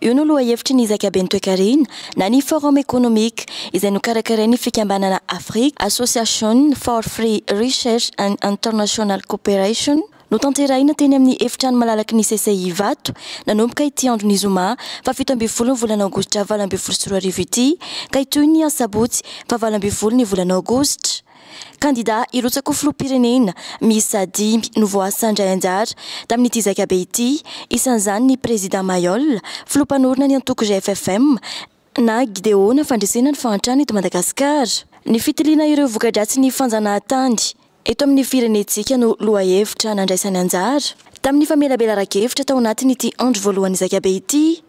Io no lohahevitry ny zakaben'ny toekarena na ny Forum Economique izay nokarakarain'ny fikambanana Africa Association for Free Research and International Cooperation, notanterahina teny amin'ny efitrano malalaky ny CCI Ivato, nanomboka ity andron'ny zoma faha fito ambin'ny folo ny volana aogositra valo ambin'ny folo sy roa arivo ity ka hitohy ny asabotsy faha valo ambin'ny folo ny volana aogositra. Kandidà hirotsaka ho filoham-pirenena miisa dimy no voasandray anjara tamin'ity zaikabe ity, isan'izany ny Prezidà Mailhol, filoha mpanorina ny antoko GFFM, na Gideona fandresena ny fahantrana eto Madagasikara. Ny fitiliana ireo voka-dratsin'ny fanjanahantany eto amin'ny firenentsika no lohahevitra nandraisany anjara tamin'ny famelabelaran-kevitra tao anatin'ity andro voalohan'ny zaikabe ity.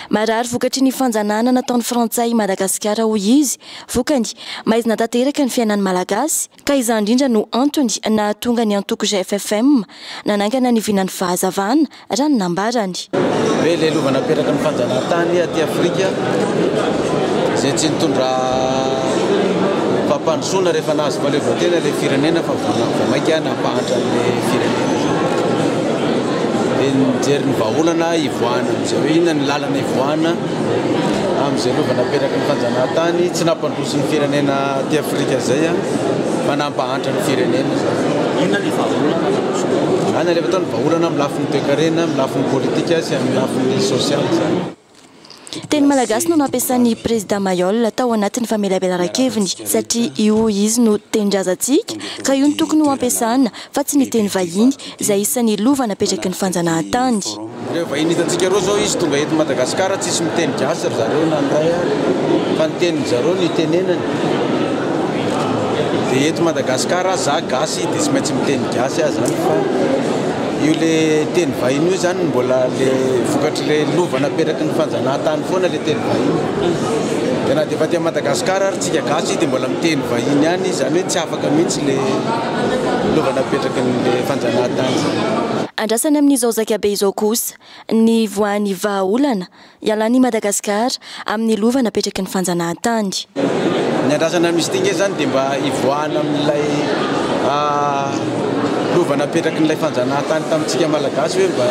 Marary vokatry ny fanjanahana nataon'ny Frantsay i Madagasikara hoy izy. Vokany, maizina tanteraka ny fiainan'ny Malagasy, ka izany indrindra no antony nahatonga ny antoko GFFM nanangana ny vinan'ny fahazavana, raha ny nambarany. Be ilay lova napetraky ny fanjanahantany aty Afrika, izay tsy nitondra fampandrosoana rehefa nahazo fahaleovantena ilay firenena fa vao mainka nampahantra an'ilay firenena izany. dia ny mijery ny vahaolana hivoahana amin'izay hoe inona ny lalana hivoahana amin'izay lova napetraky ny fanjanahantany tsy nampandroso ny firenena aty Afrika izay fa nampahantra ny firenena. Inona ny vahaolana azontsika? Any alefa tao ny vahaolana amin'ny lafiny toekarena, amin'ny lafiny politika sy amin'ny lafiny sosialy izany. Teny malagasy no nampiasan'i Prezida Mayol tao anatin'ny famelabelaran-keviny satria io izy no tenin-drazantsika ka io no tokony ho ampiasana fa tsy ny teny vahiny izay isan'ny lova napetraky ny fanjanahantany. Ireo vahiny hitantsika ireo izao izy tonga eto Madagasikara tsisy miteny gasy ry zareo na ny ray ary fa ny tenin-dry zareo no itenenany dia eto Madagasikara aza za gasy dia tsy maintsy miteny gasy aho izany fa io ilay teny vahiny io izany mbola ilay vokatry ny Ilay lova napetraky ny fanjanahantany foana ilay teny vahiny. Dia na dia efa aty Madagascar ary tsika gasy dia mbola miteny vahiny ihany izy, izany hoe tsy afaka mihitsy ilay lova napetraky ny ilay fanjanahantany. Andrasana amin'izao zaika be izao kosa ny voan'ny vahaolana ialan'i Madagasikara amin'ny lova napetraky ny fanjanahantany. Ny andrasana misy ity nge zany dia mba hivoahana amin'ilay lova napetraky n'ilay fanjanahantany tamintsika Malagasy hoe mba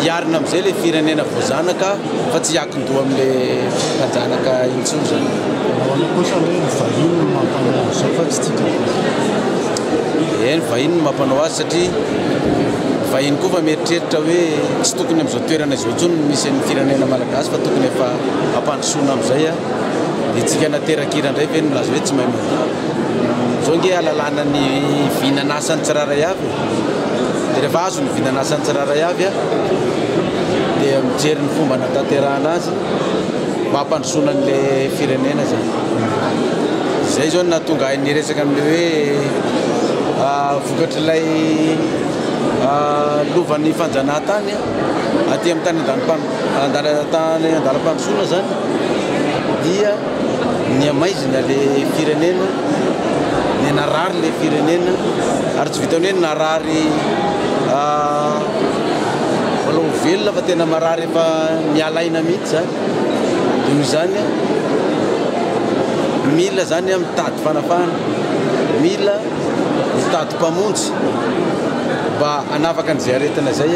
hiarina amin'izay ilay firenena voazanaka fa tsy hiankin-doha amin'ilay mpanjanaka intsony zany. Eny, vahiny no maha-mpanao azy satria vahiny koa efa mieritreritra hoe tsy tokony amin'izao toerana izao intsony ny misy an'ny firenena Malagasy. Gasy fa tokony efa ampandrosoana amzay a! Dia tsika nateraka hira ndray ve no milaza hoe tsy mahay mandihy? Zao nge alalana ny vinan'asan'ny tsirairay avy e! Dia rehefa azo ny vinan'asan'ny tsirairay avy a! Dia mijery ny fomba hanatanterahana azy mba hampandrosoana anle firenena zany. Izay zao no nahatonga ahy niresaka amle hoe vokatrilay lovan'ny fanjanahantany aty amin'ny tany andanim-panj. Handalana tany an-dalam-pandrosoana izany dia nihamaizina ilay firenena, dia narary ilay firenena ary tsy vitan'ny hoe narary mbola ho velona fa tena marary efa miala aina mihitsy izany. Dia noho izany, mila izany mitady fanafahana, mila mitady mpamonjy mba hanafaka an'izay aretina izay.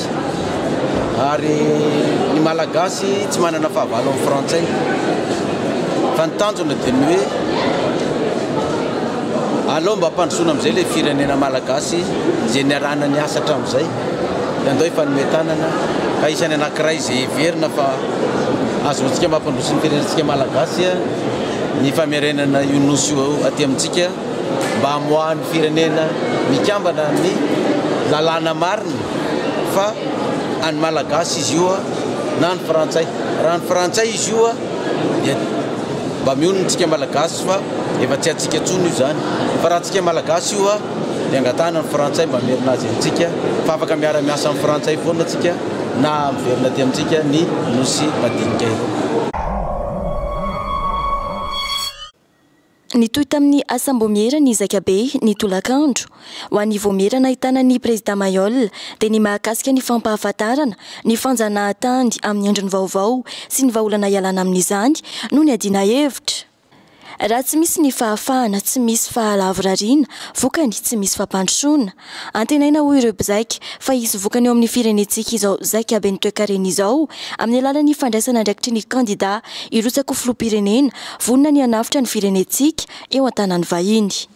Ary ny Malagasy tsy manana fahavalo amin'ny Frantsay. Fa ny tanjona dia ny hoe aleo mba ampandrosoana amin'izay ilay firenena Malagasy izay niarahana niasa hatramin'izay. Dia andao hifanome tanana ka hisy any anankiray izay heverina fa ahazoantsika mampandroso ny firenentsika Malagasy ny famerenana io Nosy io aty amintsika. mba hamoahan'ny firenena mikambana ny lalàna marina fa an'ny Malagasy izy io na ny Frantsay. Raha ny Frantsay izy io dia mba mionona antsika Malagasy fa efa tsy antsika intsony io izany. Fa raha antsika Malagasy io dia angatahana ny Frantsay mba hamerina azy amintsika fa afaka miara-miasa amin'ny Frantsay foana antsika na miverina aty amintsika ny Nosy madinika eto. Nitohy tamin'ny asam-boamiera ny Zaikabe, ny tolakandro. Ho an'ny voamiera nahitana ny Prezidà Mayol, dia ny mahakasika ny fampahafantarana ny fanjanahantany amin'ny endriny vaovao sy ny vahaolana ialana amin'izany no niadiana hevitra. Raha tsy misy ny fahafahana, tsy misy fahalavorariana, vokany, tsy misy fampandrosoana. Antenaina hoy ireo mpizaika fa hisy vokany eo amin'ny firenentsika izao zaika ben'ny toekarena izao amin'ny alalan'ny fandraisana andraikitry ny kandida hirotsaka ho filoham-pirenena vonona ny hanavotra ny firenentsika eo an-tanan'ny vahiny.